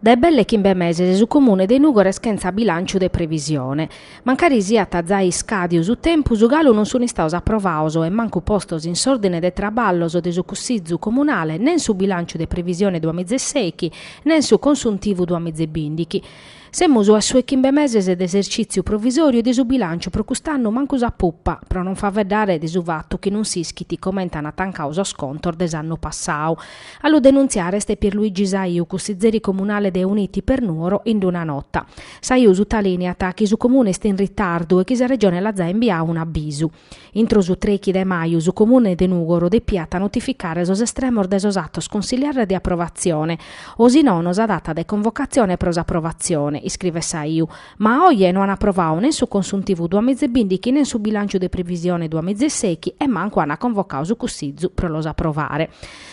Dae belle chimbe meses su Comune de Nùgoro est chentza bilànciu de previsione. Mancari siat zai iscàdiu su tempus, galu non sunt istados aprovados e mancu postos in s'òrdine de traballos de su Cussizu Comunale nen su bilànciu de previsione duamizeseichi nen su consuntivu duamizebìndighi. Semus a sos chimbe meses de esercìtziu provisòriu e de su bilànciu pro cust'annu mancu sa pupa, pro non faeddare de su fatu chi non s'ischit comente ant tancadu sos contos de s'annu passadu. A lu denuntziare est Pierluigi Saiu, cussizeri comunale de Uniti per Nuoro, in una nota. Saiu sutalìniat chi su Comune est in ritardu e chi sa Regione l'at zai imbiadu un'abisu. Intro su trechi de maju su Comune de Nùgoro depiat notificare sos estremos de sos atos consiliares de aprovatzione, o si nono sa data de convocatzione pro s'aprovatzione, iscrivet Saiu, ma a oje no an aprovadu nen su consuntivu duamizebìndighi nen su bilànciu de previsione duamizeseichi e mancu an convocadu su Cussizu pro los aprovare.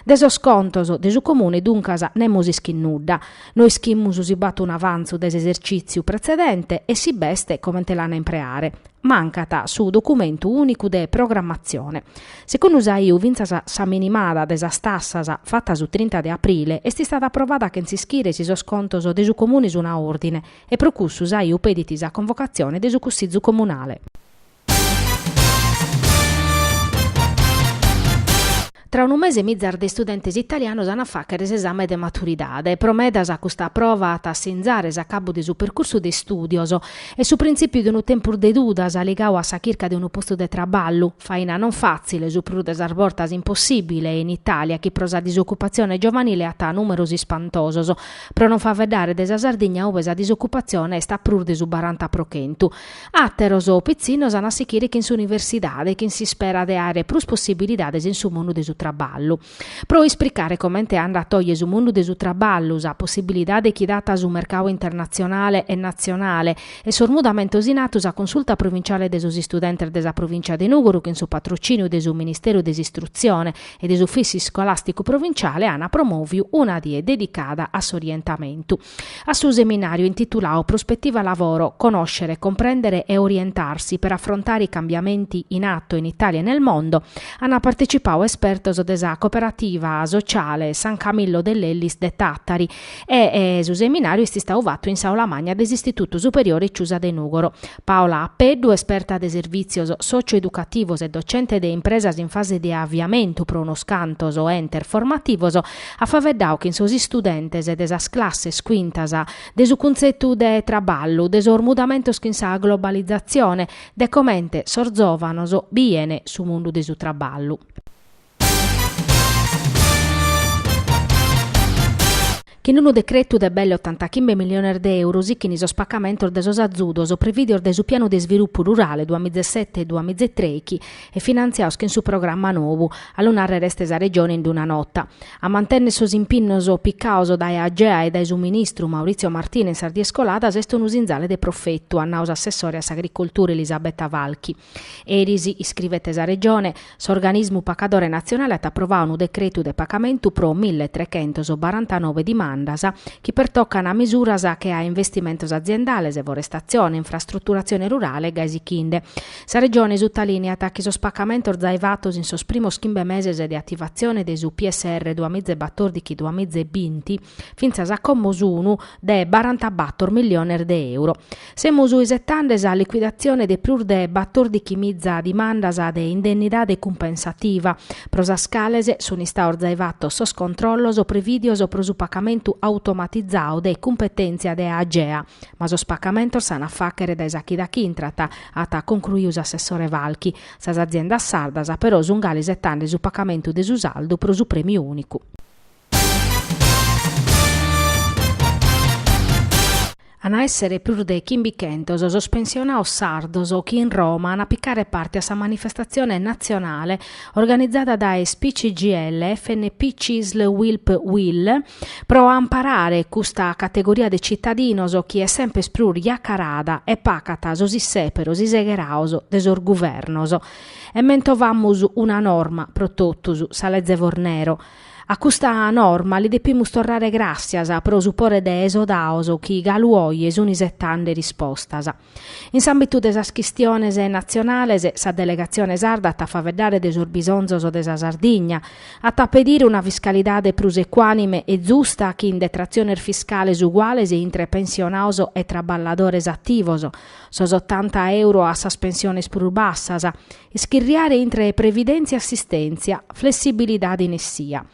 De sos contos de su Comune duncas nemos ischit nudda. No ischimus si b'at un'avantzu de s'esercìtziu pretzedente e si b'est comente l'an a impreare. mancat su documentu ùnicu de programmatzione. Segundu Saiu fintzas sa minimada de sas tassas, fata su trinta de aprile, est istada aprovada chentz'ischire si sos contos de su Comune sun a òrdine e pro cussu Saiu pedit sa convocatzione de su Cussizu Comunale. Tra unu mese mizas de istudentes italianos an a fàghere s'esame de maturidade. Pro medas custa prova at a sinzare s'acabu de su percursu de istùdios e su printzìpiu de unu tempus de dudas ligadu a sa chirca de unu postu de traballu, faina non fàtzile, su prus de sas bortas impossìbile, in Itàlia chi pro sa disocupatzione giovanile at nùmeros ispantosos, pro non faeddare de sa Sardigna ue sa disocupatzione est a prus de su baranta pro chentu. Àteros pitzinnos an a sichire chin s'universidade chin s'ispera de àere prus possibilidades in su mundu de su traballu. Pro ispricare comente andat oje su mundu de su traballu, sa possibilidade chi dat su mercadu internatzionale e natzionale e sos mudamentos in atu sa Consulta Provinciale de sos Istudentes de sa Provìncia de Nùgoro chin su patrocìniu de su Ministeru de s'Istrutzione e de s'Ufìssiu Iscolàsticu Provinciale an promòviu una die dedicada a s'orientamentu A su seminàriu intituladu Prospettiva Lavoro, conoscere, comprendere e orientarsi per affrontare i cambiamenti in atto in Italia e nel mondo ant partecipadu espertos de sa Cooperativa Sociale San Camillo de Lellis de Tàtari e su seminàriu est istadu fatu in s'aula magna de s'Istitutu Superiore Ciusa de Nùgoro. Paola Apeddu, esperta de servìtzios sòcio-educativos e docente de impresas in fase de aviamentu pro unos cantos entes formativos, at faeddadu chin sos istudentes de sas classes cuintas de su cuntzetu de traballu, de sos mudamentos chin sa globalizatzione, de comente sos zòvanos biene su mundu de su traballu. Chin unu decretu de belle ottantachimbe milliones de euro sichin sos pacamentos de sos azudos previdios dae su Pianu de isvilupu rurale duamizesete duamizetreichi e finantziaos chin su programma nou, a lu narrer est sa Regione in d-una nota. A mantenner sos impinnos picaos dae Agea e dae su ministru Maurizio Martina in sas dies coladas est unu sinzale de profetu, at nau s'assessore a s'Agricoltura Elisabetta Falchi. Eris, iscrivet sa Regione, s'organismu pacadore natzionale at aprovau unu decretu de pacamentu pro mille trechentos barantanobe dimandas chi pertocan misuras che a investimentos aziendales, forestatzione, infrastruturatzione rurale e gai sichinde. Sa Regione sutalìniat chi sos pacamentos zai fatos in sos primos chimbe meses de ativatzione de su PSR duamiza e batordighi-duamiza e binti, fintzas a como sunu de barantabator milliones de euro. Semus isetande sa liquidatzione de prus de batordighi miza dimandas de indennidade cumpensativa, pro sas cales sun istaos zai fatos sos controllos prevìdios pro su pacamentu automatizau de cumpetèntzia de Agea, ma sos pacamentos s'an a fàchere dae sa chida chi intrat, at concruiu s'assessore Falchi. Sas aziendas sardas però sun gali isetande su pacamentu de su saldu pro su prèmiu ùnicu. An a èssere prus de chimbichentos sos pensionaos sardos chi in Roma an a picare parte a sa manifestatzione natzionale organizada dae SPI CGIL, FNP Cisl UILP UIL pro amparare custa categoria de citadinos chi est sempes prus jacarada e pacat sos issèperos isegheraos de sos guvernos. E mentovamus una norma pro totus, sa Leze Fornero. A custa norma li depimus torrare gràssias pro su pore de esodaos chi galu oje sun isetande rispostas. In s'àmbitu de sas chistiones natzionales, sa delegatzione sarda at a faeddare de sos bisonzos de sa Sardigna, at a pedire una fiscalidade prus ecuànime e zusta chin detratziones fiscales uguales intre pensionaos e traballadores ativos, sos otanta euro a sas pensiones prus bassas, Ischirriare intre previdèntzia e assistèntzia, flessibilidade in essia.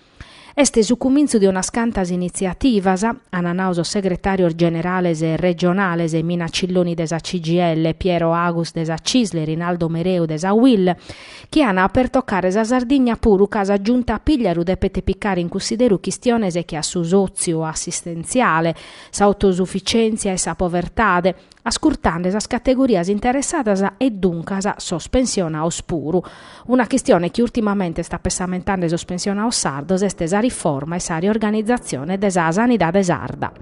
Est su cumintzu de unas cantas initziativas, ant nau sos segretàrios generales regionales Mina Cilloni de sa CGIL, Piero Agus de sa Cisl e Rinaldo Mereu de sa UIL, chi ant a pertocare sa Sardigna puru ca sa Giunta Pigliaru depet picare in cunsideru chistiones che a su sòtziu assistentziale, s'autosufficièntzia e sa povertade, ascurtande sas categorias interessadas e duncas sos pensionaos puru. Una chistione chi ùrtimamente est apessamentande sos pensionaos sardos est sa riforma e sa riorganizatzione de sa sanidade sarda.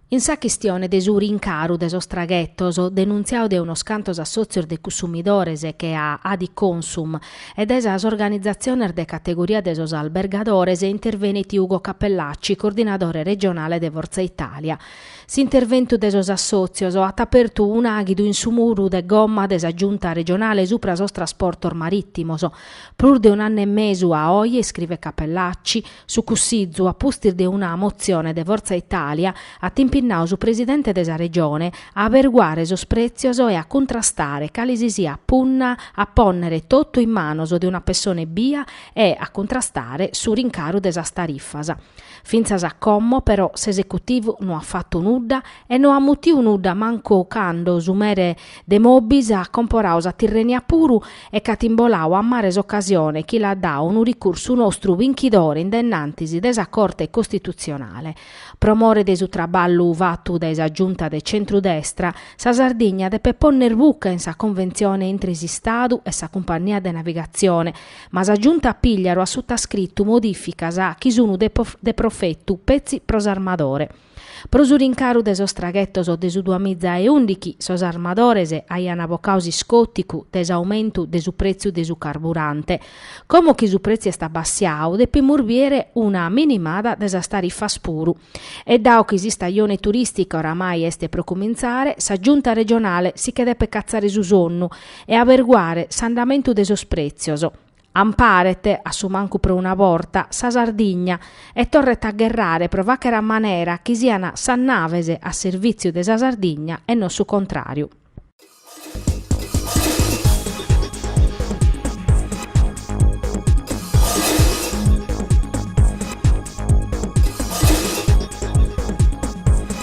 In sa chistione de su rincaru de sos traghetos, denuntziadu de unos cantos assòtzios de consumidores che a Adiconsum e de sas organizatziones de categoria de sos albergadores intervenit Ugo Cappellacci, coordinadore regionale de Forza Italia. S'interventu de sos assòtzios at apertu un'àidu in su muru de gomma de sa Giunta regionale subra sos trasportos marìtimos. Prus de un'annu e mesu a oe, iscrivet Cappellacci, Su Cussizu, a pustis de una motzione de Forza Italia, at impinnadu su presidente de sa Regione a averguare sos prètzios e a cuntrastare cale si siat punna a pònnere totu in manos de una pessone ebbia e a cuntrastare su rincaru de sas tarifas. Fintzas a como, però, s'esecutivu no at fatu nudda e no at mutiu nudda mancu cando su mere de Moby s'at comporadu sa Tirrenia puru e ch'at imboladu a mare s'ocasione chi l'at dadu unu ricursu nostru binchidore in de innantis de sa Corte Costitutzionale. Pro more de su traballu fatu dae sa Giunta de centru-destra, sa Sardigna depet ponner buca in sa conventzione intre s'Istadu e sa cumpannia de navigatzione, ma sa Giunta Pigliaru at sutascritu modificas chi sunu de profetu petzi pro s'armadore. Pro su rincaru de sos traghetos de su duamiza e ùndighi sos armadores aian bocadu s'iscòticu de s'aumentu de su prètziu de su carburante. Como chi su prètziu est abbassiadu depimus biere una minimada de sas tarifas puru. E dao chi s'istajone turìstica oramai est pro cumintzare, sa Giunta regionale si che depet catzare su sonnu e aberguare s'andamentu de sos prètzios, Amparet, a su mancu pro una borta, sa Sardigna e torret a gherrare pro fàghere a manera chi sian sas naves a servìtziu de sa Sardigna e non su contràriu.